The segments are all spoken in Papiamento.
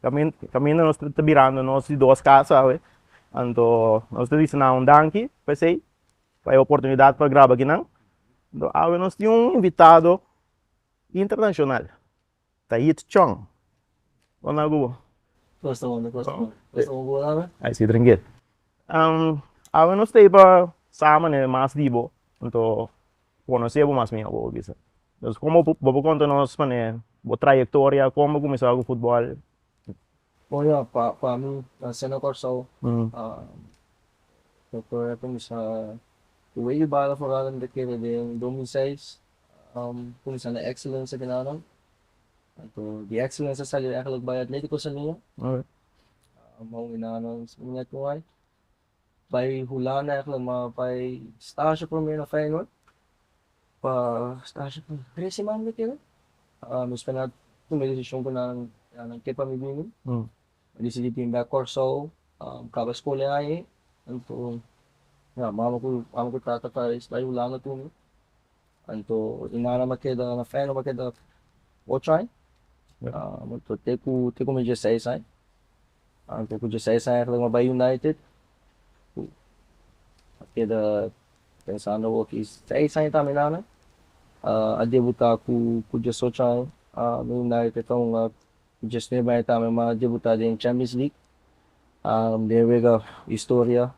Kaminda nos ta birando nos di dos kasa awe, anto nos ta bisa nan un danki pa esei, pa e oportunidat pa graba ki nan, anto awe nos tin un invitado internashonal ta Hit Chong, konta ku bo? Kosta bo, kosta bo, kosta bo por awe? Ai si trankil. Awe nos ta iba samen e mas di bo, anto konosé bo mas mihó bo bisa. Entonces komo bo por konta nos mane bo trayektoria, kon bo kuminsá ku futbòl? Bueno pa mi nan siendo kòrsou trayektoria kuminsá ku wei di bala foral nan ta kere den dos mil seis kuminsá na Excellence ekinan anto di Excellence a sali bai Atlético Salia Mou Iná no es muñek no hay. Bay Hulanda eigenlijk maar bay stage prome na Feyenoord pa stage pa trece man mi kere mi spera nan tuma e decision ku nan ya nan ke pa mi bini mi decidi bin bek Kòrsou kaba skol e aña enton ya mama ku mama ku tata ta reis bay Hulanda tuma. Anto e nannan a keda na Feyenoord a keda ocho aña anto te ku te ku mi dieseis aña anto ku dieseis aña aintlik mi a bai United ku a keda pensando awor ki seis aña ta mi nannan a debuta ku diesocho aña na United ta hunga. Josne bai tambe mas debutá den Champions League den e wega historia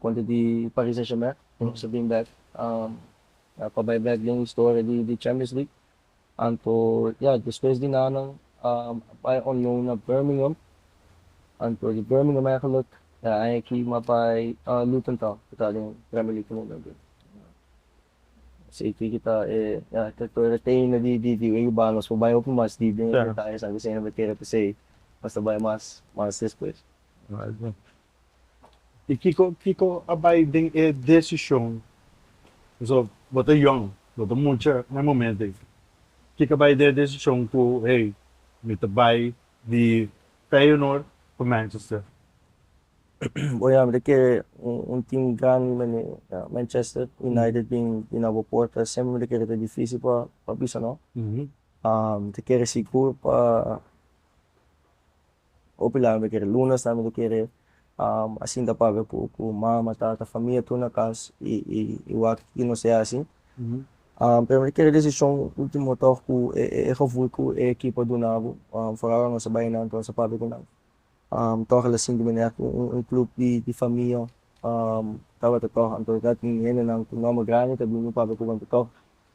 kontra di Paris Saint-Germain ku nos a bin bèk pa bai bèk den historia di Champions League anto ya despues di nan nan a bai on loan na Birmingham anto di Birmingham eigenlijk a Ajax a bai Luton Town ku ta den Premier League momento. Esaki kita e arquitectura ta hende di di di e urbano nos por bai hopi mas deep den e detaye sa bisin no kere pesey nos ta bai mas mas despues. Y kiko kiko a bai den e decision pasobra bo ta yong bo ta mucha na e momento ey kiko a bai den e decision cu hey mi ta bai di Feyenoord cu Manchester? Bo ya mira ke un tim grandi mende Manchester United bin na bo porta e semper mi ta kere ta difisil pa bisa no. Mi ta kere sigur pa hopi laya mi ta kere lunes na mi ta kere a sinta papia ku mama, tata, famia tur na kas i wak tiki nos a yahasi. Pero mi ta kere desishon ultimo tok ku e gevoel ku e ekipo a dunabo foral nos a bai nan tur nos a papia ku nan. Toha las sinku media ku un klup di famia tabata toha anto ta tin hendenan ku nòmber grandi ta bini papia ku banta toha.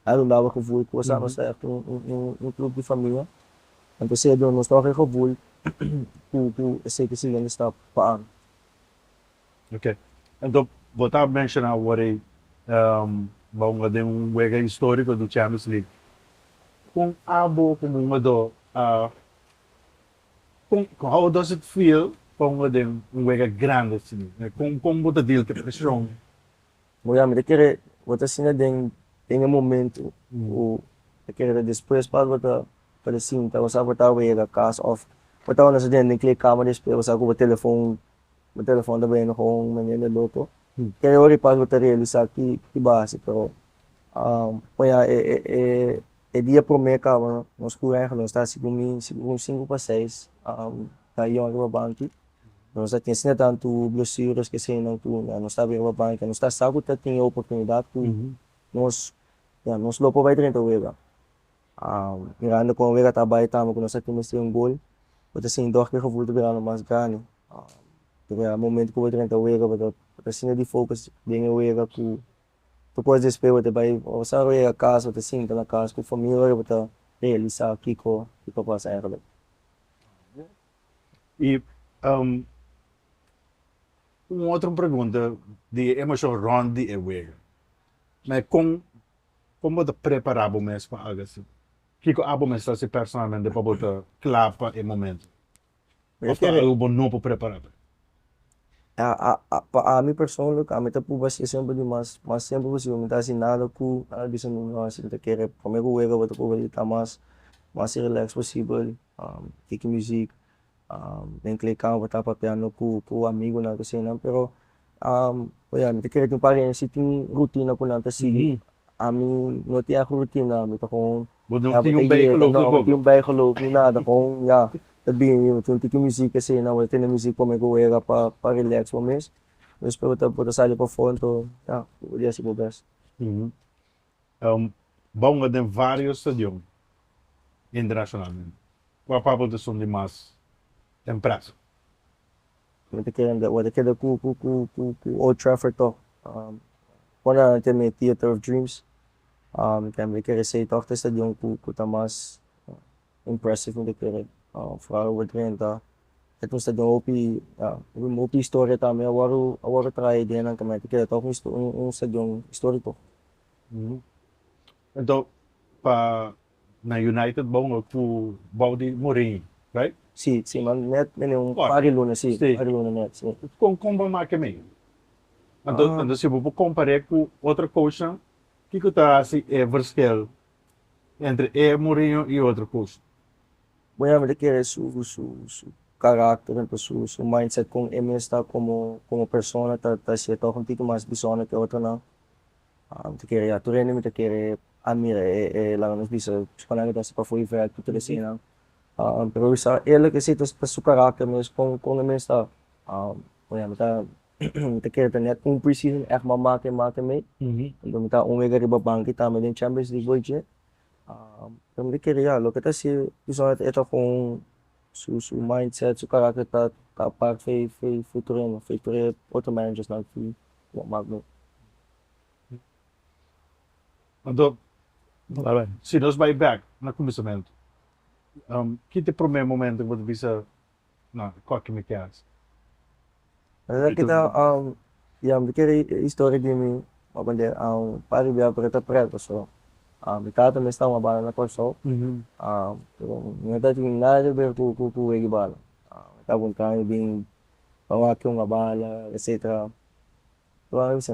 A runda bo gevoel ku nos tabata ser un klup di famia anto esei a duna nos toha e gevoel ku esei ta e siguiente stap pa ami. Ok, anto bo ta menshona awor ei bo a hunga den un wega historiko di Champions League. Kon abo komo hungadó a Con how does it feel pongo den un wega grande así? Con con bo ta deal cu e presion? Bo ya mi ta kere bo ta sinta den den e momento o ta kere ta despues pas bo ta bo ta sinta bo sa bo ta wega cas of bo ta wand'e so den den kleedkamer di espera bo sa cu bo telefon bo telefon ta bini hoon mende loco. Kende ora di pas bo ta realisa ki ki bo hasi pero wen a e dia prome kaba nos kura aiga nos ta hasi ku mi si un sinku pa seis ta yon riba banki nos a tin sinta tantu blesures kesenan ku nos ta bai riba banki nos ta sa ku ta tin e oportunidad ku nos nos lo por bai drenta wega Mirando kon Wega ta bai tambe ku nos a kimes tren gol bo ta sinti dor ku e gevoel ta birando mas grandi pasobra momento ku bo ta renta Wega bo ta sinti di focus den e Wega ku tur cos despues bo ta bai bo sa yega akas bo ta sinti na cas ku famia ora bo ta realisa kiko bo ta pasa eigenlijk. Y un otro pregunta di e emoshon rond di e Wega na kon Kon bo ta prepará bo mes pa hágase? Kiko abo mester hasi personalmente pa bo ta kla pa e momento? Òf ta algu ku bo no por prepará pa el? Pa ami persoonlijk, ami ta pruba hasi esempel di mas mas tempu posible. Mi ta hasi nada ku nada bisa mi no hasi. Mi ta kere promé ku wega bo ta pruba di ta mas mas relax posibel. Tiki muzik den kle kau bo ta papiando ku ku amigunan ku esei nan pero oia mi ta kere tin pareha si tin rutina ku nan ta sigui ami no tin aho rutina ami ta kon ya bo ta yega no abo no tin baigeloof ni nada kon ya ta bini bo tin tiki muzik esei nan bo ta tene muzik pa me ku wega pa pa relax bo mes despues bo ta sali pafon to ya bo ta dia si bo bes. Bounga den vários stadion internashonalmente. Kua papel ta son di mas empresa? Mi ta kere mira, bo ta keda ku Old Trafford tòg. Kon nan a tene e Theatre of Dreams? Mi ta kere esei tòg ta e stadion ku ta mas impressive mi ta kere fala ober drenta e pues ta den hopi hopi historia tambe awor awor ta traha e ideanan ta mete keda ta un stadion historico. Enton pa na United bo a cu bou di Mourinho right? Si si ma net mene un par di luna si par di luna net si. Con con bo a make mi? Anto si bo por compare cu otro coachnan kico ta haci e verschil entre e Mourinho y otro cos. Bo ya mester kere su su caracter ento su su mindset con e mes ta como como persona ta ta hacía toch un tiki mas bizonder ke otronan a mi ta kere ya tur hende mi ta kere a mira e e laga nos bisa su panan ke ta hasi pafo y vèk tur tur esinan a pero esa e loke si ta ta su caracter mes con con e mes ta a bo ya mi ta. ta kere ta net un pre-season ègt mama ke ma tamei lo mi ta un wega riba banki tambe den champions league bo dje lo mi ta kere ya loke ta hasi pasonan ta eta kon su su mind set su karakter ta ta apart fei fei fei tur hende fei tur e otro managers nan ki a mak bo. Anto si nos bai bek na kuminsamentu kiko ta e prome momento ku bo ta bisa. na koto mi keda. Esa ki ta ya mi kere e historia di mi papa di par di bia pero ta preto so mi tata mes ta wabala na Kòrsou pero mi no ta tin nada ke ber ku ku wega bala mi ta buntami bin pa wak ken wabala etsetera mi ta wak mi bisa.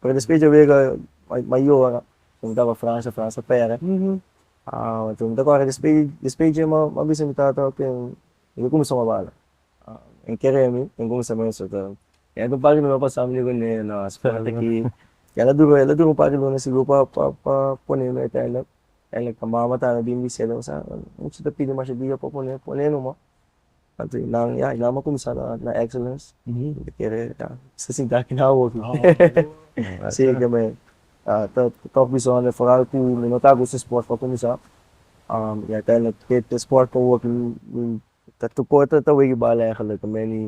Pero despues dje wega mayo ora cu mi taba Francia, Francia pera, cu mi ta corda despues despues dje ma bisa mi tata ok mi ta cuminsa na bala, e keremi ten cuminsa me suta, e un par di luna pasa mi diego nee no spera taki, el a dura el a dura un par di luna sigur pa pa pa pone mi uiteindelijk eindelijk mama ta a bin di cielo a bisa mi no ta pidi masha dia pa pone pone no ma. Anto y nan ya y nan a cuminsa na excellence y kere ya ta sinti aki nan a work si ke me ta tof bishones foral cu mi no ta gusto sport pa cuminsa y uiteindelijk ke te sport pa work mi ta tur cor ta weggie bal eigenlijk me ni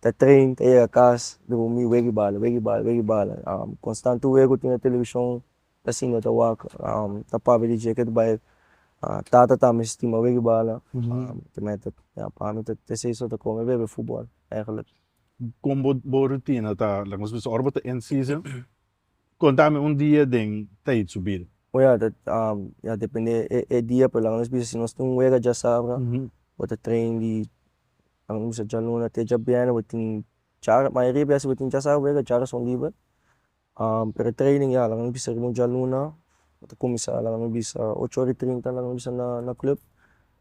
ta train ta yega cas drumi weggie bal weggie bal weggie bal constant tur wego tin na television Asina no ta wak ta papia di dje ke ta bai tata ta mi stima wiki bala ya pami ta esey so ta kome e bebe futbol eigenlijk. Kon bo bo rutina ta laga nos bisa ora bo ta end season konta mi un dia den Tayit Subil. Oja ta depende e dia pero laga nos bisa si nos tin un wega djasabra bo ta train di laga nos bisa djaluna te djabiene bo tin char mayoria bes si bo tin djasabra wega char asun liber Pretraining ya laga mi bisa riba un djaluna bo ta cuminsa laga mi bisa ocho ora y trinta laga mi bisa na club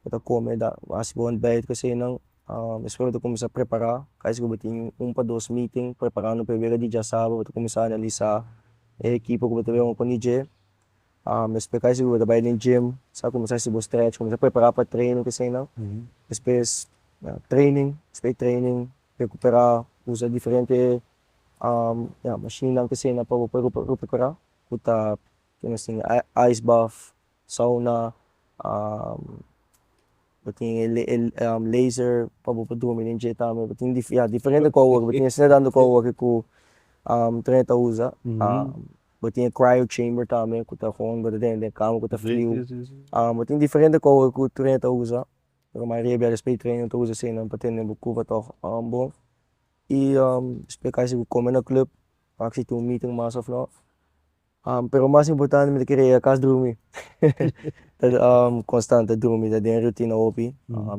bo ta come hasi bo ontbijt casi enan despues bo ta cuminsa prepara ca esque bo tin un pa dos meeting preparando pa e wega di diasaber bo ta cuminsa analisa e ekipo cu bo ta wega con e dje despues ca esque bo ta bai den gym sa cuminsa hasi bo stretch cuminsa prepara pa training casi enan despues training despues training recupera usa diferente Ya mashinnan kusina pa bo por recuperá ku ta kende nos tin ice bath, sauna, bo tin e laser pa bo por drumi den dje tambe bo tin ya diferente kos wòrdu bo tin esei tantu kos wòrdu ku tran e ta usa bo tin e cryo chamber tambe ku ta hòn gura den den kama ku ta friu bo tin diferente kos wòrdu ku tren ta usa pero mayoria biaha despues di tren no ta usa eseinan pa tene bo kuba tòg bon y splica esi cu come na club pac si tin un meeting mas of no pero mas importante mi ta kere yega cas drumi constante drumi ta den rutina hopi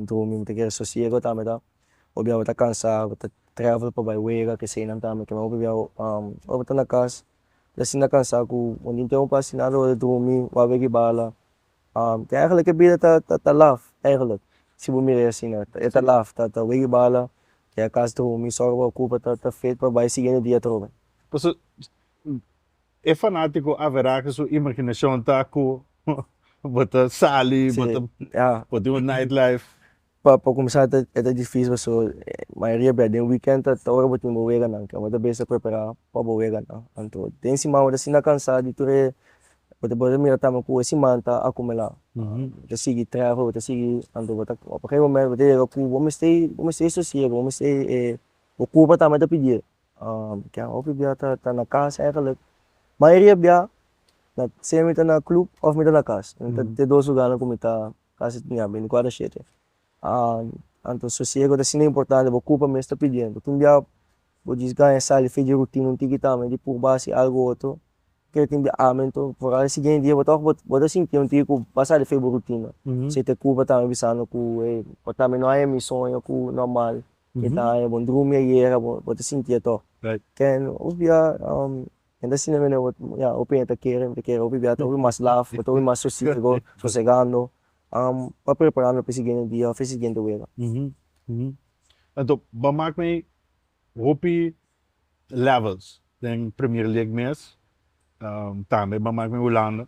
drumi mi ta kere sosiego ta mita obia bo ta cansa bo ta travel pa bai wega kesenan ta mita bai wega oi bo ta na cas ta sinti cansa cu bo tin tempo pa haci nada oi drumi wak weki bala Ke eigenlijk e bida ta ta laf eigenlijk si bo mira e asina e ta laf ta ta wega bala ke a kas dromi so bo a kupa ta ta fet pa bai siguiente dia atrobe. Pasobra e fanatiko averá ke su imaginashon ta ku bo ta sali bo ta bo tin un night life. Pa pa kumsa ta e ta difísil pasobra mayoria bia den weekend ta ta ora bo tin bo weganan ke bo ta bisa prepará pa bo weganan anto den siman bo ta sinta kansá di tur e bo ta bo ta mira tambe ku e siman ta akumulá bo ta sigui trèfel bo ta sigui anto bo ta op e momen bo ta yega ku bo mester bo mester sosiego bo mester e bo kurpa tambe ta pidi'e ke hopi bia ta ta na kas eigenlijk mayoria bia na se mi ta na club of mi ta na kas te dos lugarnan ku mi ta. Casi tin ya beinticuatro shete. Anto sosiego ta siña importante bo cupa mes ta pidiendo tin bia bo djis gaña sal di fe dje rutina un tiki tambe di purba haci algo otro kere tin bia amento foral e siguiente dia bo ta bo bo ta sinti un tiki cu bo a sa di fe bo rutina si te cupa tambe bisando cu ey bo tambe no haña mi soño cu normal e ta haña bo drumi ayera bo bo ta sinti atoch ken otro dia. Kende asina mi aneba ya hopi hende ta kere mi ta kere hopi bia ta hopi mas laf bo ta hopi mas sosiego sosegando pa preparando pa e siguiente dia of e siguiente wega. Anto bo a mak mi hopi levels den premier league mes tambe bo a mak mi Hulanda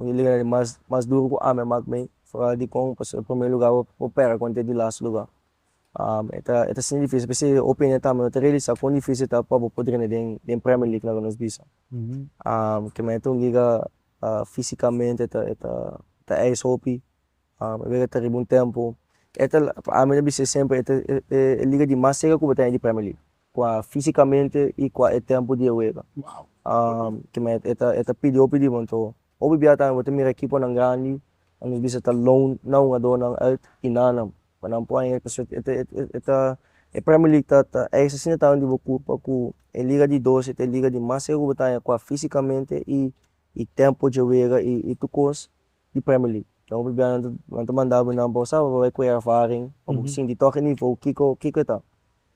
Mi ta liga di mas mas duru ku ami a mak mi foral di kon pasobra e prome luga bo pera konta e di last luga. e ta e ta siña difisil p'esei e opinion ta mi no ta realisa kon difisil ta pa bo por drene den den premier league na ku nos bisa. ke me ta un liga fisikamente ta e ta ta eis hopi e liga ta riba un tempo e ta la pa ami ta bisa siempre e ta e e liga di mas serka ku bo ta haya di premier league Kua físikamente i kua e tempu di e wega. Kima e ta e ta pidi hopi di bo. Anto hopi bia tambe bo ta mira ekiponan grandi a nos bisa ta loan na hungadónan ùit i nannan pa nan poi e ta e ta e ta e Premier League ta ta eis asina tambe di bo kulpa ku e liga di doce ta e liga di mas segur bo ta haña kua físikamente i i tempu dje wega i i tur kos di Premier League. Enton hopi bia nan ta nan ta manda bo nan pa bo sa pa bo bai kore ervaring pa bo sinti tok e nivo kiko kiko e ta.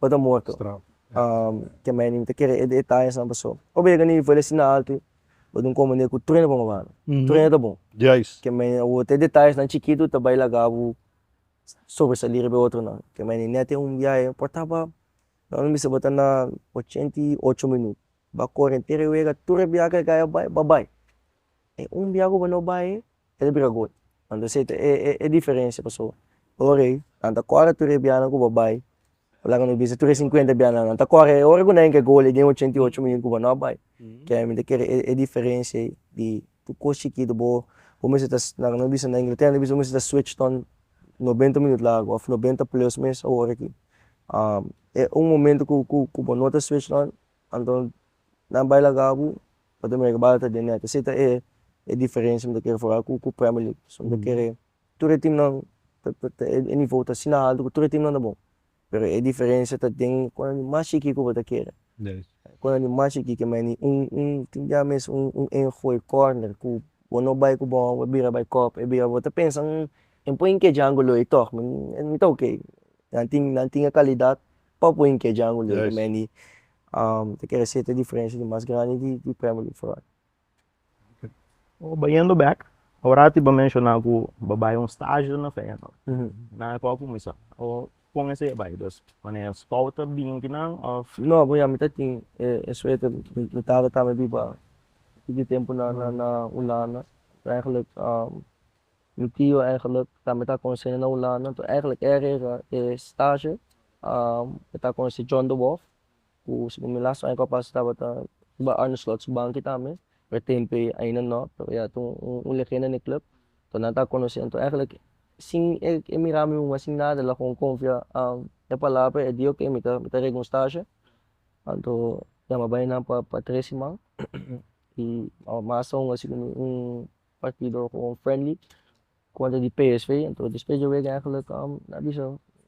pa ta morto ke mei nin ta kere e detañas nan paso ora bo yega na nivel asin alto bo tin komende ku trueno pa bo mano trueno ta bon ke mei awor te detañas nan chikito ta bai laga bo sobresali riba e otro nan ke mei nin nete un biahe a portaba nan a bisa bo ta na ochenta i ocho minut ba kore entero e wega tur e biaha ke a bai a bai e un biaha ku bo no bai. e ta bira gol. Wan ta seta e e e diferensia pasobra ora ei nan ta kore tur e bianan ku bo bai bo laga mi bisa tur e sinkuenta bianan nan ta kore e ora ku nan a yega e gol ei den e ochenta i ocho minut ku bo no a bai ke mi ta kere e e diferensia ei di tur kos chikitu bo bo mester ta na nan bisa na Inglaterra nan bisa bo mester ta switch ton nobenta minut largu of nobenta plus mes ora aki e un momento ku ku ku bo no ta switch nan anto nan bai laga bo. pa ta mira kibal ta den nèt. Esei ta e diferensia mi ta kere fora ku ku prèmer lig. Pasobra mi ta kere tur e timnan e nivou ta asina altu ku tur e timnan ta bon pero e diferensia ta den kon nan di mas shiki ku bo ta kere. Kon nan di mas shiki ke mei ni un un tin dia mes un un ein gooi kòrner ku bo no bai ku bòl bo bira bai kòp e bira bo ta pensa hmm mi por yink e django lo ei tòg mi mi ta ok nan tin nan tin e kalidat pa por yink e django lo ei mei ni ta kere hacer te diferencia di mas grandi di di premio di foron. Bayendo bek orati bo menciona ku bo bai un stage na feyenoord nan a por cuminsa o con asina bai dus wanneer scout ta binki nan of. No bo ya mi ta tin e suerte mi tata ta me biba tigin tempo na holanda so eigenlijk Mi tio eigenlijk tambe e ta conoce na Hulanda enton eigenlijk er era e stage e ta conoce John de Wolff cu segun mi las aña cu a pasa tabata riba Arne Slot su banki tambe pero e tempo ei ain a no pero ya tu un legenda na e club enton nan ta conoce enton eigenlijk sin e e mira mi muma sin nada el a gewoon confia e palabra e di ok mi ta mi ta rega un stage anto ya mi a bai nan pa pa tres siman y mas aun a sido un. partido cu un friendly contra di psv entonces despues di e wega eigenlijk na bisa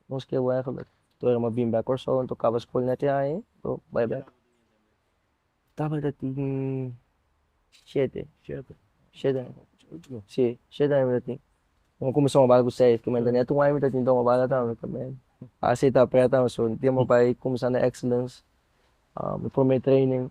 nos ke wou eigenlijk tur a bin back Kòrsou entonces kaba school net e aña entonces bai back tabata ta tin shete shete aña si shete aña mi ta tin mi a cuminsa wobal cu seis kimen ta net un aña mi ta tin ta wobal a tawe kimen a seta a pret tawe so mi tempo bai cuminsa na excellence mi prome training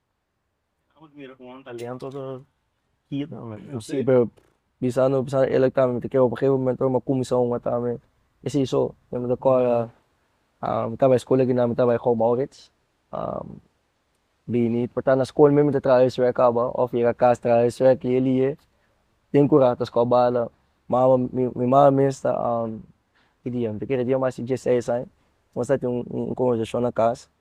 Si, pero pisando pisando el a tambe mi ta kere ora geu momento ora mi a kuminsá a hunga tambe esei so mi tabata kòrda mi ta bai skol aki na mi ta bai Joao Maurits bini por ta na skol mi ta traha heswei a kaba òf yega kas traha heswei aki e lie den ku rato a skó bala mama mi mama mes ta ki dia mi ta kere dia mas di dies seis aña nos ta tin un konversashon na kas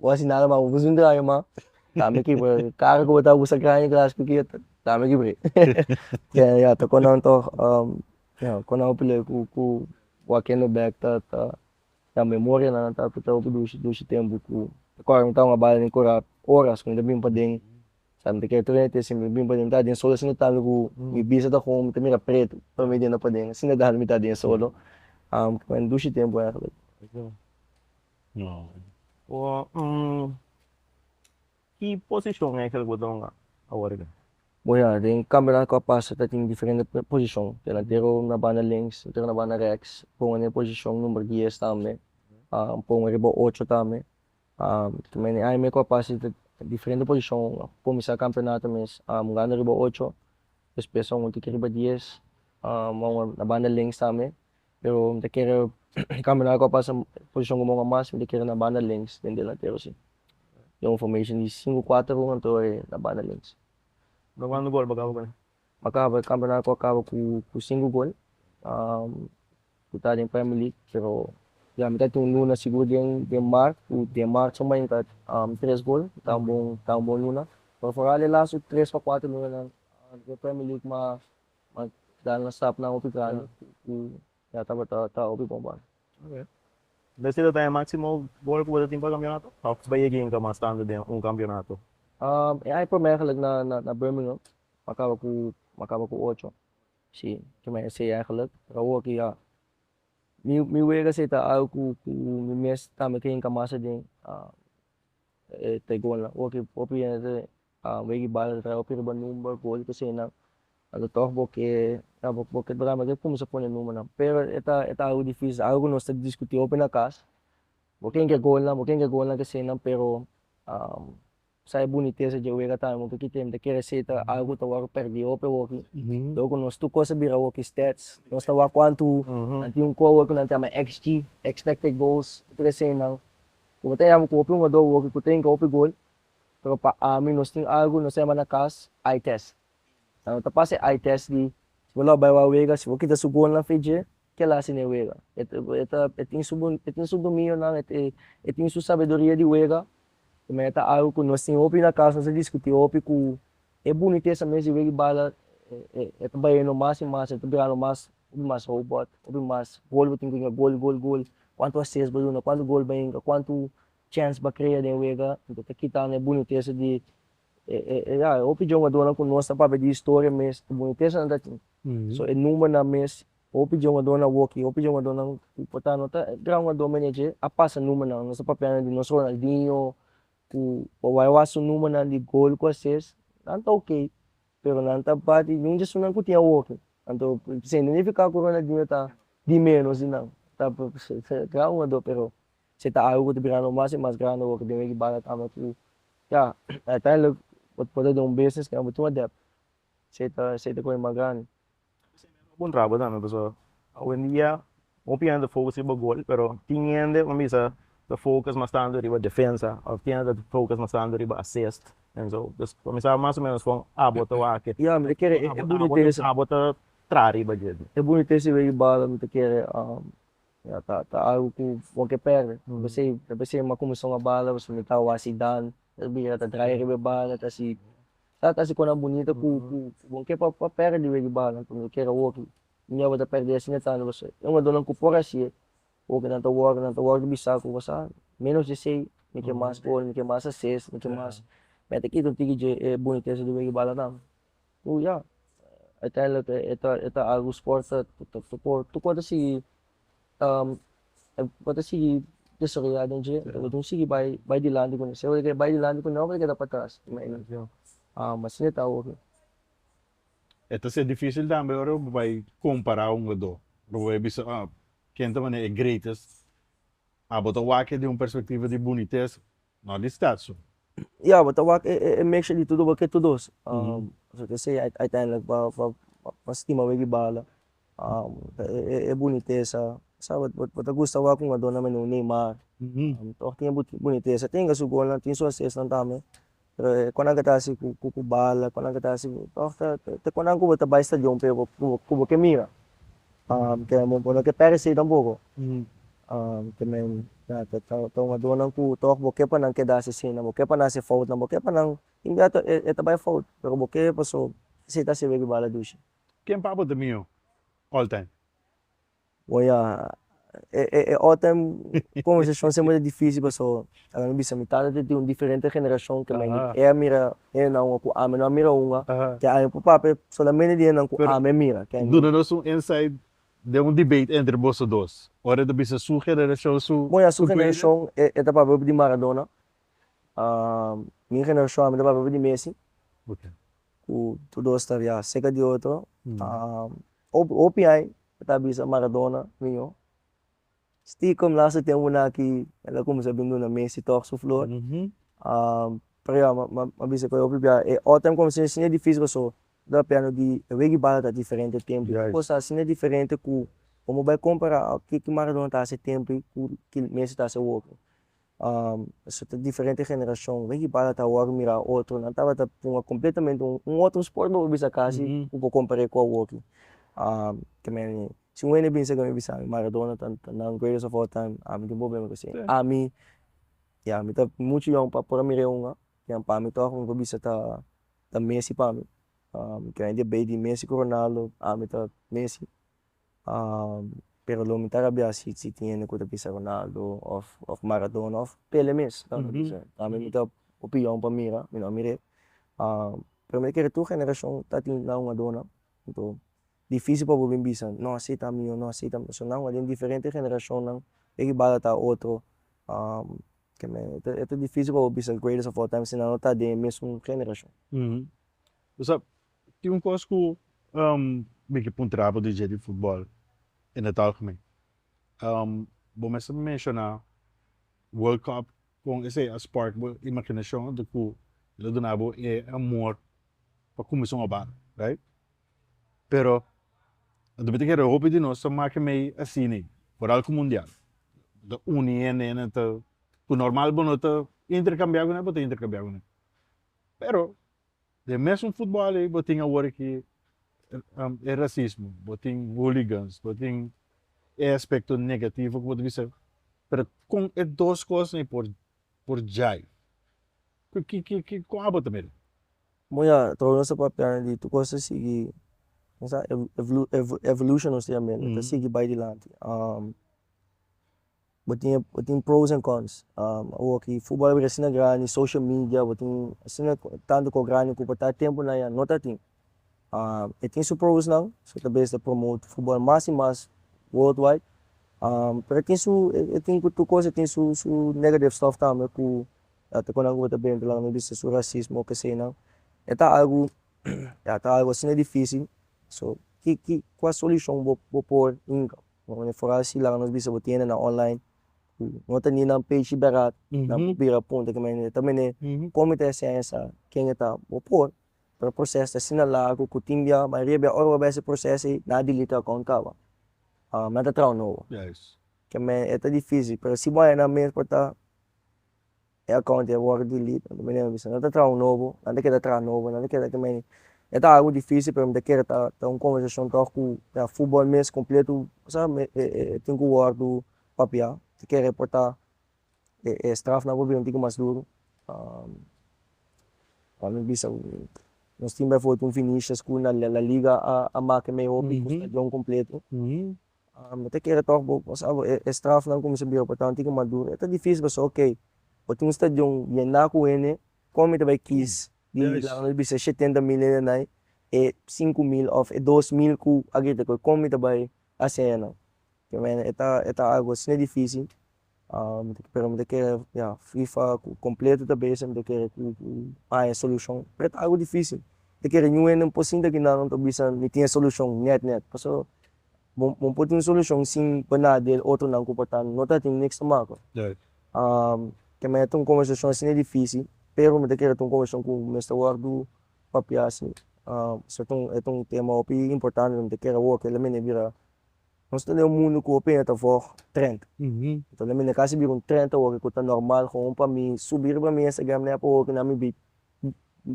Bo a hasi nada mas bo bisa un traha mas tambe ki bai carro ku bo ta usa graña gras ku kia tambe ki bai ya ta kon nan tog ya kon nan hopi lei ku ku bo a kende bek ta ta ya memoria nan ta afecta hopi dushi dushi tempu ku ta kor mi tawata bala den kura horas ku mi ta bini paden sa mi ta kere tur me tesi mi bini paden mi ta den solo asina tambe ku mi bisa ta kon mi ta mira pretu pa mi denda paden asina tambe mi ta den solo dushi tempu ki posishon e Angel Godon a awor aki? Bo ya, den kampeonato ku a pasa ta tin diferente posishon, delantero na banda links, otro na banda reks, pongo na e posishon number dies tambe, pongo riba ocho tambe, kuma e aña me ku a pasa ta diferente posishon, kuminsá kampeonato mes a mugando riba ocho, despues a un otro ke riba dies, a un na banda links tambe. Pero mi ta kere kambia nan a kua pasa posishon ku Mongua mas mi ta kere na banda links den delantero si den un formashon di sinku kuater un anto e na banda links. Nan kuantu gol bo a kaba ku nan? Mi a kaba e kampeonato a kaba ku sinku gol ku ta den premi lig pero ya mi ta tin un luna sigur den den mart ku den mart suma yinka tres gol ta un bon ta un bon luna pero foral e lastu tres pa kuater lunanan den premi lig mas Mas dal na stap nan hopi grandi y ya tabata ta hopi bon bal. Oke. Bo estim'e ta e maximo gol cu bo ta tin pa campeonato? Of bo yega yinka mas tando den un campeonato? E aña promer eigenlijk na Birmingham bo a caba cu bo a caba cu ocho, si, kimen esey eigenlijk. Pero awo ki ya mi wega esey ta algo cu cu mi mes tambe ke yinka mas aden e te golnan. Awo ki hopi hende. Weggy bal a traha riba number gol cu sey nan a lo tog bo ke a bo bo ke bra mester cuminsa pone number nan pero e ta e ta algo dificil algo cu nos ta discuti hopi na cas bo ken ke golnan bo ken ke golnan ke sey nan pero sa e bunitesa dje wega tambe bo ta kiti e mita kere sey ta algo cu ta wor perdi hopi hopi lo cu nos tur cos a bira hopi stats nos ta wak cuantu nan tin un cover cu nan ta yama xg expected goals tur esey nan cu bo ta yama cu hopi hungador hopi cu ta hinca hopi gol. Pero pa ami nos tin algu nos ta yama na cas eye test. Sa no ta pasa e eye test di si bo lo bai wou a wega si bo kita su gonan fi dje kiela hasi n'e wega. E ta e ta e tin su e tin su dominionan e e e tin su sabedoria di wega e maya ta algu ku nos tin hopi na cas nos a diskuti hopi ku e bunitesa mes di wega i bala e e e ta bayendo mas i mas e ta birando mas hopi mas robot hopi mas gol bo tin ku yinga gol gol gol kuantu ases bo duna kuantu gol bo yinga kuantu Chance pa crea den wega anto ta kitando e bunitesa di e ya e hopi jongadornan cu nos ta papia di historia mes e bunitesanan ta tin so e numbernan mes hopi jongadornan woki hopi jongadornan cu por ta no ta gran jugador me ne dje a pasa numbernan nos ta papiando di nos Ronaldinho cu por wai wak su numbernan di gol cu a ses nan ta ok pero nan ta bat di un di esunnan cu tin a woki anto sin nifica cu Ronaldinho ta di menos di nan ta gran jugador pero Si ta algu cu ta birando mas y mas grandi awor cu den wiki banda tamba cu ya uiteindelijk bo por ta den un business cu abo tin un debt si ta si ta coge mas grandi. Bo bon traba tambe pasobra awendia hopi hende ta focus riba gol pero tin hende wen bisa ta focus mas tanto riba defensa of tin hende ta focus mas tanto riba assist en zo pues comensaba mas o menos con abo ta wak e Ya mi ta kere e bunitesa abo ta traha riba dje. E bunitesa di wiki banda mi ta kere. Ya ta ta algu ku bo ke pèrdè. Ta pasei ta pasei ma kuminsó un banda pasobra mi tabata hasi dan ta bira ta draya riba e banda ta hasi ta ta hasi kosnan bunita ku ku ku bo ke pa pa pèrdè riba di banda anto mi ta kere awoki mi aba ta pèrdè asina tambe pasobra e jugadornan ku por hasi'e woki nan ta wòrdu nan ta wòrdu bisa ku boso a ménos di esei mi ke mas gol mi ke mas ases mi ke mas me ta kita un tiki dje e bunitesa di wei di bala tambe. Oh ya, uiteindelijk e ta e ta algu sport ta ta ta por tur kos ta sigui e por ta sigui desaroya den dje lo tin sigui bai bai dilanti kune sea lo ke bai dilanti kune o lo ke keda patras asi e ta awo ke. E ta ser dificil tambe ora bo bai compara un ku otro ora bo bai bisa ken ta mane e greatest abo ta wak e di un perspectiva di bunitez No di stad su. Ya bo ta wak e e mixture di tudu bo ke tudu so so ke se uiteindelijk bo bo bo stima bo e bala ta e e e bunitesa sa bo bo bo ta gusta wak un adorno mende un neymar tog tin e bu bunitesa tin ke su golnan tin su asistnan tambe pero e e konan ke ta hasi ku ku bala konan ke ta hasi tog ta te konan ku bo ta bai stadion p'e bo ku bo ku bo ke mira. Kende bo no ta perecido na bobo te men na ta tomadunan cu tog bo ke pa nan keda asesino bo ke pa nan haci fout nan bo ke pa nan ingato e ta bay fout pero bo ke paso asi ta sibi di bala dushi. Ken pabo ta mihó all time? Bueno ya e all time conversacion siempre ta dificil paso Ora mi bisa mi tata te tin un diferente generashon ke men, e a mira hennan ua ku ami no a mira ua, te ami por papia e solamente di hennan ku ami a mira. Ken di? Duna nos un insight den un debate entre boso dos, ora e ta bisa su generashon, su. Bon, ya su generashon e ta papia hopi di Maradona, mi generashon ami ta papia hopi di Messi, ku tur dos ta ria seka di otro, hopi ai ta bisa Maradona, miño. Stikom last a tem una aki el a cuminsa bin duna Messi tog su flor pero ya m'a bisa cu hopi bia e otro tem cuminsa asina dificil pasobra lo a piano di e weggi bal a ta diferente e tempo y cos ta asina diferente cu amo bai compara kiko Maradona ta hasi e tempo y cu kil Messi ta hasi awor Esei ta diferente generashon. Wei ki bata ta awor ku mira otro. Nan tabata puma kompletamente un un otro sport bo por bisa kasi ku bo kompar'é ku awoki. ke mene si un hende binse ke mi bisa maradona ta ta nan greatest of all time ami tin problema ku esei. Ami ya mi ta muchu yòn pa por a mir'é un an pa mi tòg un ku bisa ta ta messi pa mi. ke hende bei di messi ku ronaldo ami ta messi. pero lo mi ta rabia si si tin hende ku ta bisa Ronaldo of of Maradona of Pele mes ta bisa ami mi ta opinion pa mira mi no a mir'é pero mi ta kere tur generashon ta tin nan hugadónan anto difícil pa bo bin bisa no a si ta mio no a si ta mio pasobra nan huga den diferente generashonnan e ribala ta otro e ta difícil pa bo bisa greatest of all time si nan no ta den e mesun generashon. Tin un kos ku mi ke puntra bo DJ di futbòl in het algemeen. Bo mester mi menshoná World Cup kon esei a spark bo imaginashon anto ku el a duna bo e amor pa kuminsa un òbata, right? Pero a duna te kere hopi di nos ta make mei asina, por algu mundial. Bo ta uni hende, hende ta, ku normal bo no ta interkambiá ku nan, bo ta interkambiá ku nan. Pero, Den mesun futbal ei bo tin awor aki e rasismo, bo tin hooligans, bo tin e aspekto negativo ku bo ta bisa, pero kon e dos kosnan ei por por djai? Ku ki ki ki kon abo ta mira? Bo ya trou nos ta papianan di tur kos ta sigui kien sa evolution nos ta yamen lo ta sigui bai dilanti Bo tin bo tin pros and cons awoki futbol a bira asina grandi social media bo tin asina tantu kos grandi ku pa ta tempu nan ya no ta tin e tin su pros nan so ta bes ta promote futbol mas y mas world wide pero e tin su e tin ku tur kos a tin su su negative stuff tambe ku a ta konanku bo ta bira entre nan no bisa su racismo kesey nan e ta algu ya ta algu asina dificil so ki ki kua solucion bo bo por Bo mane for hasi laga nos bisa bo tienda na online ku no ta ninan page di berat nan por bira punta ke mene ta mene kon mi ta hesei sa ken a ta bo por pero proces ta asina lagu ku tin bia mayoria bia ora bo a bai ese proces ei nan a delete e account kaba nan ta traha un nobo ke mene e ta dificil pero si bo a haya nan mes por ta e account a worde delete mi a bisa nan ta traha un nobo nan ta keda traha nobo nan ta keda ke mene e ta algo dificil pero mi ta kere ta un conversacion tor cu ya football mes completo sa e tin cu wordo papia ta kere porta e straf nan por bini un tin cu mas duro pa mi bisa nos tin bifoot un Vinicius cu na la liga a make mei hopi cu stadion completo Bo ta kere tòg bo pasa bo e strafnan ku mi sa bira bo tantu ku maduro. E ta difísil pasobra okay bo tin un stadion yendá ku hende, kon mi ta bai kis di un milagro di bisa e shetenta mil hende nan ei, e sinku mil òf e dos mil ku a grita ku ei kon mi ta bai hasi eyanan? P'e mene e ta e ta algu asina difísil pero mi ta kere ya fifa ku kompletu ta bese mi ta kere ku haña solushon pret agu difisil mi ta kere ñuhende un po sinta kina nan ta bisa mi tin e solushon net net pasobra bo bo por tin solushon sin pa na di e otro nan ku por ta no ta tin niks ta makua te mete un konversashon asina difísil pero mi ta kere ta un konversashon ku mester wòrdu papia si esei ta un esei ta un tema hopi importante mi ta kere awor kel la mi na bira. Nos ta den un mundu ku hopi hende ta vòg trenta. Enton na mi na kasi bira un trenta hopi ku ta normal komo pa mi subi riba mi Instagram na ya por hopi na mi bai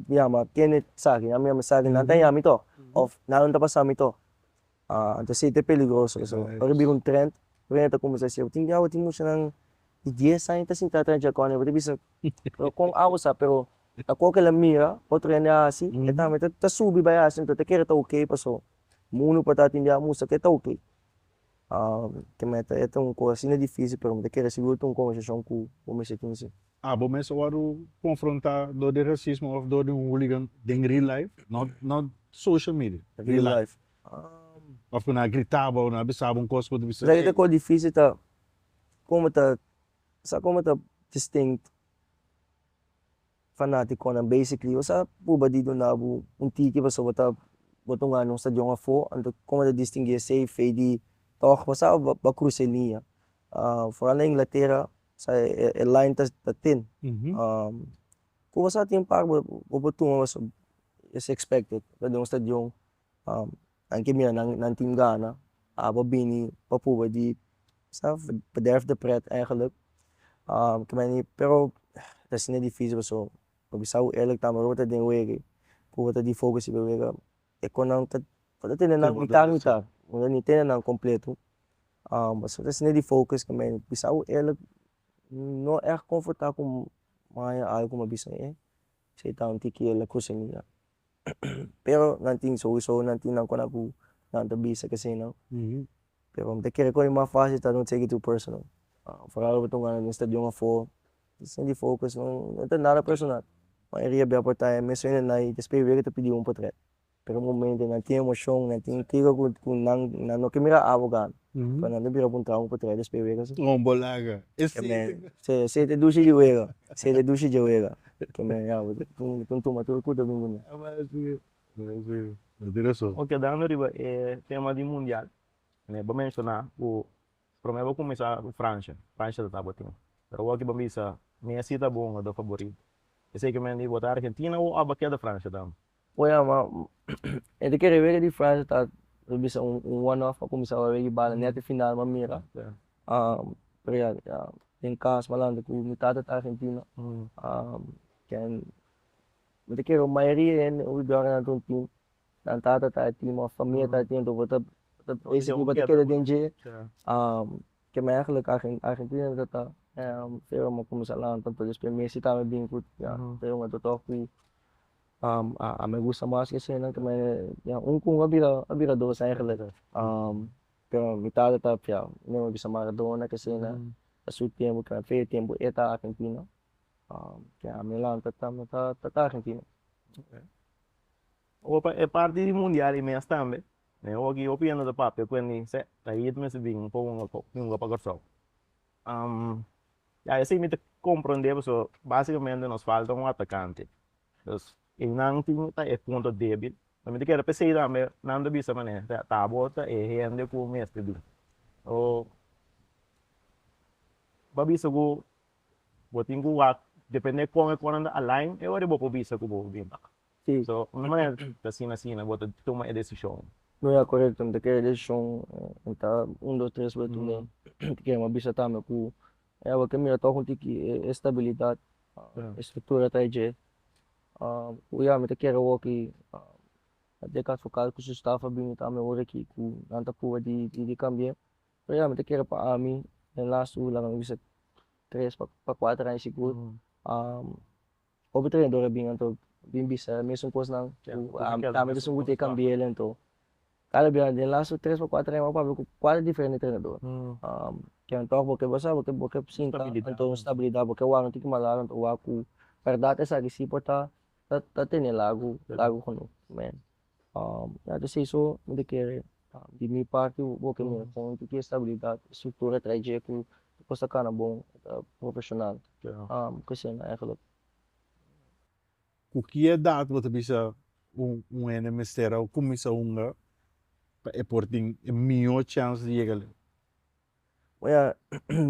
yama kende saki na mi yama esaki nan ta yami to òf nan no ta pasa mi to a anto si ta peligroso eso ora e bira un trenta hopi hende ta kuminsá si tin diawo tin mushanan di dies aña ta sintá atrás di chakon nan bo ta bisa pero kon awo sa pero ta koko el a mira otro hende a hasi e tambe ta subi bai hasi enton ta kere ta ok paso. Mundo pa tatin di amusa ke ta ok ke meta e ta un kos asina dificil pero mi ta kere si yu un conversacion cu bo mes tin si. A bo mes a wòrdu confronta dor di racismo of dor di un hooligan den real life? Not not social media, real life. Of cu nan a grita bo, nan a bisa bo un cos cu bo ta bisa. Esaki ta cos dificil ta como ta sa como ta distinct. Fanaticonan basically bo sa purba di duna bo un tiki pasobra bo ta bo ta un anima stadion afo anto como bo ta distingui esey fey di toch bo sa bo a cruza e liña foral na inglatera sa e line ta tin cu bo sa tin parbo bo por tuma pasobra es expected ta den un stadion nan ke mira nan nan tin gana a ba bini pa probe di sa bederf de pret eigenlijk pero asina dificil pasobra bo bisa hu eerlijk ta ora bo ta den wege ku bo ta di fogu sibi wega e kon nan ta ta tene nan mitad mitad bo no tene nan completo pasobra ta asina di focus ku mei bisa hu eerlijk no echt comforta ku maya algu ma bisa ei Sei ta un tikiela kusa mi ya. Pero nan tin souso nan tin nan kona ku nan ta bisa ke sei nan. Pero mi ta kere kore mas fácil ta don't take it too personal. Foral bo ta un gana den stadion afó sin di focus no ta nada personal. Mayoria a bia por ta ahí mes hende na ahí ta esper wei ke ta pidi un por trek. Pero momento nan tin emocion nan tin kiko cu cu nan nan no ke mira abogado pa nan ta bira cu un trauma pa trae despe wega si. Oh bo laga e seite cu. Si e seite dushi di wega e seite dushi dje wega cu nan ya bo tin tuma tur cu ta bin cu nan. Aba asi asi bo tin rason. Ok kedando riba e tema di mundial me bo menciona cu prome bo cuminsa cu Francia Francia ta tapa tin pero awor ki bo bisa Messi ta bo un jugador favorito esey cu men di bo ta Argentina o aba keda Francia tambe. Poi a ma e ta kere wega di frase ta lo bisa un un one off pa kuminsá wawá wegi bala nèt e final mi a mira den kas malandu ku mi tata ta argentino ken mi ta kere mayoria di hende hui dòrnan nan ta un tim nan tata ta e tim of famia ta e tim anto bo ta bo ta kere den dje ke mi eigenlijk argen argentino mi tata pero mi a kuminsá laga anto anto despues messi ta mi bin kut ya ta yòm anto tòg ku A me gusta mas ki eseinan ku me ya un ku un a bira a bira dos ya en realidad pero mi tata ta fia mi a bisa Maradona ki esei nan ta su tiempo pero fe e tiempo e ta argentino ya mi lanta ta mi tata ta argentino. Opa e parti di mundial i mes tambe mi hopi hopi yanda ta papia ku e minsha ta hit mester bin un poco hunga pa Kòrsou. Ya esei mi ta comprende pasobra basicamente nos falta un atacante, pues einan tin ta e punto debil, so mi ta kere p'esei tambe nan ta bisa mane tabo ta e hende ku mester bin, so bo a bisa ku bo tin ku wak depende kon e konan ta align e wor bo por bisa ku bo bin. Si. So, un maner ta asina asina bo ta tuma e desishon. Bo ya korekto, mi ta kere e desishon en ta un dos tres wet tu men. Mi ta kere bo a bisa tambe ku e awa ke mira tòg un tiki e stabilidat, e struktura ta e dje. Ku ya mi ta kere awoki a dje kas por kas ku su staf a bini tambe ora aki ku nan ta pruba di kambie. Pero ya mi ta kere pa ami den lastu laga mi bisa tres pa kuater aña sigur Otro trenador a bin anto bin bisa e mesun cosnan cu ami, ta mi esun cu tin cambiel anto cada bia den laatste tres pa cuatro aña bo a papia cu cuatro diferente trenador ken a tok bo ke bo sa bo ke bo ke sinta anto un stabilidad bo ke wak no tin ki malal anto wak cu berdad esaki si por ta ta ta tene lagu lagu geno. Ora esei so mi ta kere di mi parti bo ke mira kon mi ta kiri stabilidad y structura trae dje ku kos ta kana bon y ta profesional kusina eigenlijk. Ku ki edat bo ta bisa un hende mester a kuminsa hunga pa e por tin e mihó chèns di yega leu? mi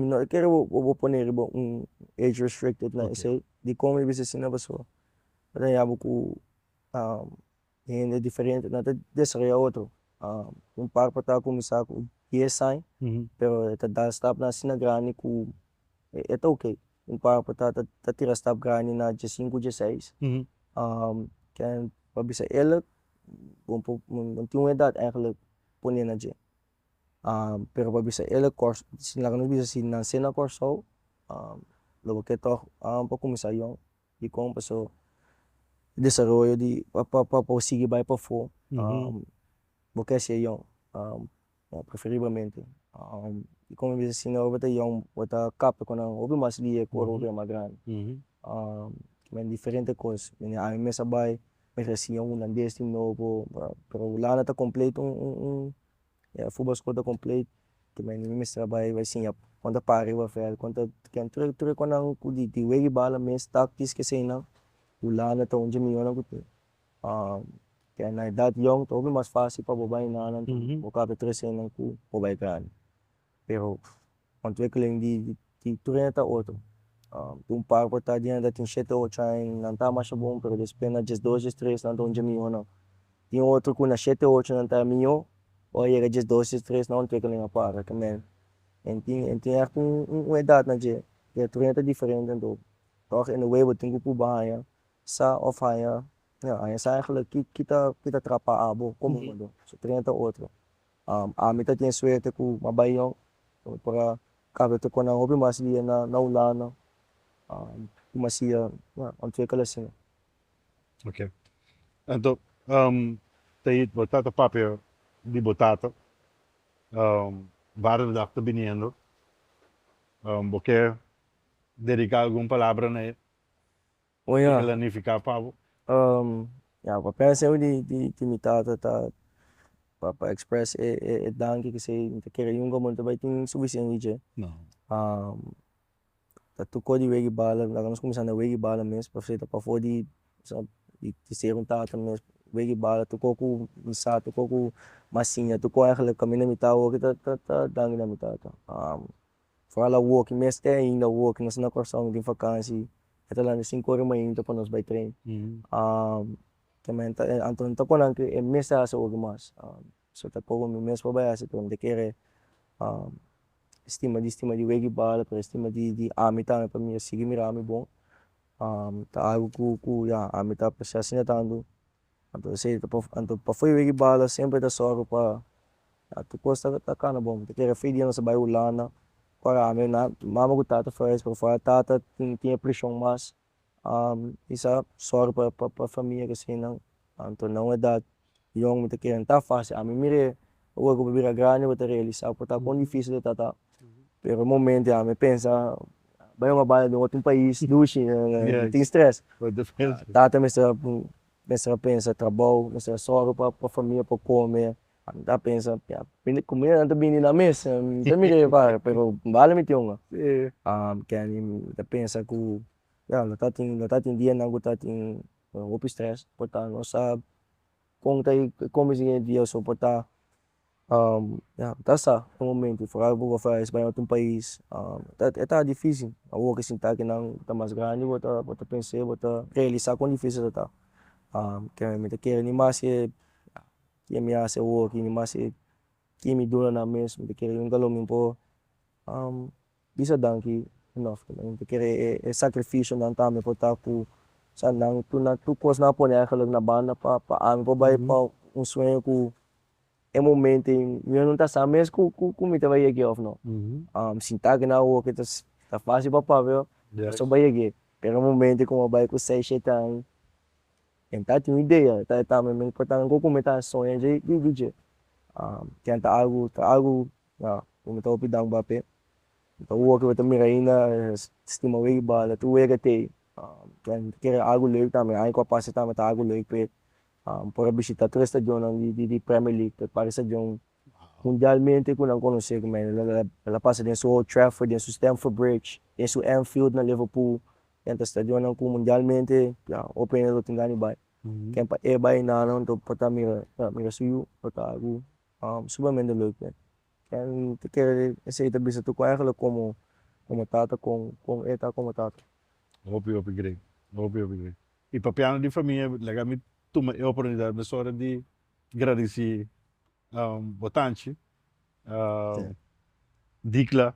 no ta kere bo pone riba un age restricted na esei dikon mi bisa asina pasobra bo ta yama ku hende diferente nan ta desaroya otro un par por ta cuminsa cu dies aña pero e ta dal stapnan asina grandi cu e ta ok, un par por ta ta tira stap grandi na die sinku, die seis ken pa bisa eler bon por nan tin un edad eigenlic pone na dje pero pa bisa eler cors si laga nos bisa si nan se na corsou lo baketor pa cuminsa yong. Dikon paso desaroyo di pa por sigui bai pafó bo ke ser yòn preferiblemente dikon mi bisa asin ora bo ta yòn bo ta kap ku nan hopi mas lia ku ora bo bai mas grandi kimen diferente kos mi ami mesa bai mi resi yòn hulandes di nobo pero hulanda ta completo Ya futbol school ta compleet mi mi mester bai bai siña kon ta para riba veld kon ta ken tur tur econnan cu di di wega di bala mes tactics ki eseinan hulanda ta un dje miyon cu tin ken na edad yong ta hopi mas facil pa bo bai nanan bo caba ta traha eseinan cu bo bai grandi Pero ontwikkeling di di trena ta otro tin un par cu ta di nanta tin shete ocho aña nan ta masha bon pero despues na dies dos dies tres nan ta un dje miyonan tin otro cu na shete ocho nan ta miyo ora a yega dies dos dies tres nan ontwikkeling a para ta mel en tin en tin hartu un edad nan dje pero trena ta diferente anto tor en away bo tin cu purba haña sa of haña haña sa ki ki ta trapa abo trena ta otro. Ami ta tin e suerte cu a bay yon cu mi por a caba ta cona hopi mas dia na Hulanda como a siya ontwikkelen asina. Ok enton Tahit bo ta ta papia di bo tata Vader de dag ta biniendo bo kier dedica algun palabra na e? Oh ya. Tika lanifiká pa bo? Um, ya, pa pensa eu di di di mi tata ta pa pa express e e e danki ki sei mi ta kere yunga bo no ta bai tin sufisiente di dje. No. Um, ta tokó di wega i bala laga nos kuminsá na wega i bala mes pasobra ta pafó di sa di di ser un tata mes, wega i bala tokó ku mi sa tokó ku masiña tokó, eigenlijk kaminda mi ta awo aki ta ta ta danki na mi tata. Um. Foral awoki mes te ainda awoki nos na Kòrsou no tin fakansi e ta lanta sinku ora mainta pa nos bai tren ke men ta anto nan ta kon nan ke e mes ta hasi awoki mas so ta kobo mi mes pa bai hasi pero mi ta kere stima di stima di weggi bal pero stima di di ami tambe pa mi a sigui mirami bon ta algu ku ku ya ami ta aprecia asina tantu. Anto esey ta por anto pafui wiki bala semper ta sòru pa anto kos ta ta kana bon mi ta kere afui dia nos ta bai hulanda ora ami nan mama ku tata for reis pofua tata tin tin e prishon mas mi sa sòru pa pa pa famia kasinan anto nan edat yòn mi ta kere nan ta fasi ami mire Ora ku bo bira grandi bo ta realisa ku ta kon difisil e ta ta pero e momento ya mi pensa bai un habaya den otro pais dushi tin stress tata mester mester a pensa trabou mester a sòru pa pa famia por kome ami ta pensa ya bini kumida nan ta bini na mes mi ta mira e bai pero bale mi tin unda kendy mi ta pensa ku ya lo ta tin lo ta tin dianan ku ta tin hopi stress por ta nos sa. Kon ta e komes di hende ya so pa ta ya ta sa e momento foral bo ta bay na otro pais e ta dificil awor ke sinta ke nan ta mas grandi bo ta bo ta pensa bo ta realisa kon dificil a ta kende me ta kere ni mas ke ke me hasi awor ke mi mas ke kimi duna nan mes me ta kere yunga lo mi por. Bisa danki enof cu nan ta kere e sacrificionan tambe por ta cu sa nan cu nan tur cos nan a pone eigenlijk na banda pa pa algo bay pa un sueño cu e momento ain mi ain no ta sa mes cu cu cu mi ta bay yeg'e of no sinta aki na awoke ta ta facil pa papi oh paso bay yeg'e pero e momento cu mi a bay cu seis shete ain mi ta tin idea ta e tambe mi portan cu cu mi ta soña dje di di dje tin ta algo ta algo Ya, mi no ta hopi dang bapé. Mi ta wòrdu ku mi ta mira ainda stima wei bal, tur wega t'ei. Pen mi ta kere algu lek tambe, aña ku a pasa tambe ta algu lek p'e por a bishita tur e stadionnan di di premier league p'e parke stadion mundialmente ku nan konos'é kuma el a el a pasa den su old trafford, den su stamford bridge, den su anfield na liverpool, ken ta stadionnan ku mundialmente ya hopi hende lo tin gana di bai. Ken pa e bai nan nan ta obi por ta mira mira su yu lo ta algu. Supermente loi cu ken ta kere esey ta bisa tu cu aingela como como tata con con e ta como tata. Hopi hopi grei hopi hopi grei y papiando di famia lega mi tuma e oportunidad mesora di gradici bo tanchi Dicla.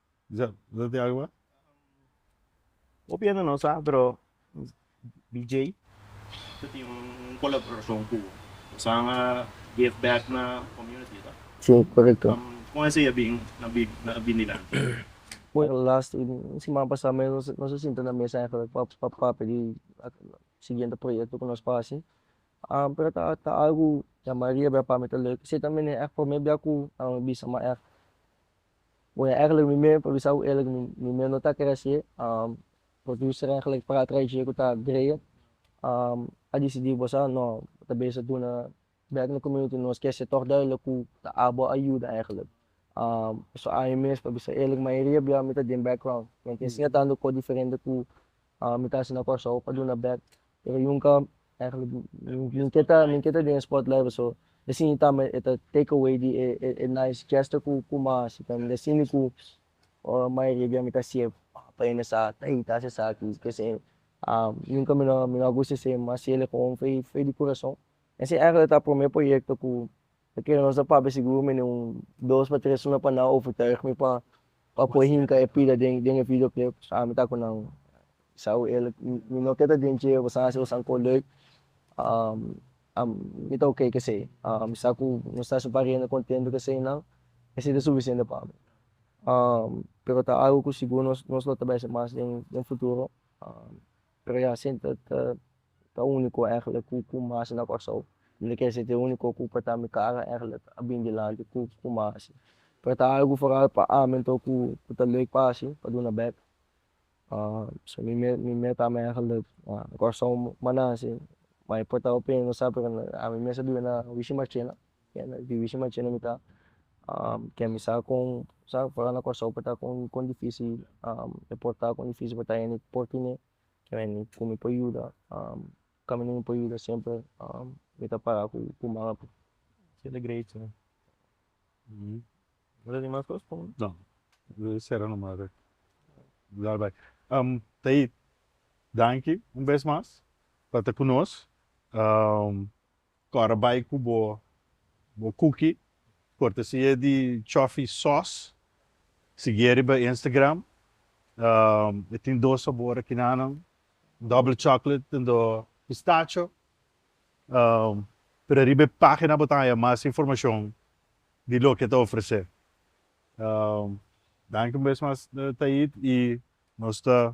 Hopi hende no sa pero DJ ta tin un colaboracion cu San a give back na community ta si corecto con esey a bin na bin dilanti. Last un siman pasa nos a sinta na mesa eigenlijk pa papia di siguiente proyecto cu nos pa haci pero ta algo yama riba pa mi ta lek esey ta mi ne echt prome bia cu a mi bisa ma echt Bo ya eglek mi me pa bisa u eglek mi mi me no ta kere así producer eglek para trae dje ku ta great a disidi bo sa no bo ta bisa duna bek na community nos ke sector de lo ku ta abo ayuda eglek pasobra aña mes pa bisa eglek mayoria bia mi ta den background mi a inga tantu kosa diferente ku mi ta hasi na Kòrsou pa duna bek Pero yunka eigenlijk mi ke ta mi ke ta den e sport blijven so e siñi tambe e ta take away di e e nice gesto ku ku ma hasi tambe e siñi ku mayoria di ami ta sieb papá hende sa tey ta hasi esaki p'esei yunka mi no mi no a gusta esei mas si el e hoon fey fey di kurason esei eigenlijk ta prome proyekto ku Pakier nos ta papia sigur mi ne un dos pa tres hora pa nan overtuig mi pa pa por hinca e pida den den e video clip ami ta cu nan Isao el mi no ke ta den dje bo sa a haci bo sanco leuk mi ta ok kesey mi sa cu nos ta haci un par hende contento kesey nan esey ta suficiente pa mi pero ta algo cu sigur nos nos lo ta bisa mas den den futuro. Pero ya asin ta ta unico eigenlijk cu cu cum hasi na Kòrsou mi ta kere si t'e unico cu por ta mi kara eigenlijk a bin dilanti cu cum a hasi pero ta algu foral pa ami anto cu cu ta leuk pa hasi pa duna bek so mi me mi me tami eigenlijk Kòrsou mannan si ma e por ta hopi no sa pero ami mester biba na Wichi Marchena Divishi ma chene mi ta kemi sa kon sa fora na Kòrsou por ta kon kon difisi e por ta kon difisi por ta hende por tine kua hende ku mi por yuda kami mi por yuda semper mi ta para ku ku manga pui. Danki un bes mas pa ta ku nos. Kòrda bai ku bo bo kuki kortesia di chòfi sòs. Sigui e riba Instagram. E tin dos sabor akinanan, Double Chocolate den do Pistacho. Pero riba e página bo ta haya mas informashon di loke e ta ofresé. Danki un bes mas Taid i nos ta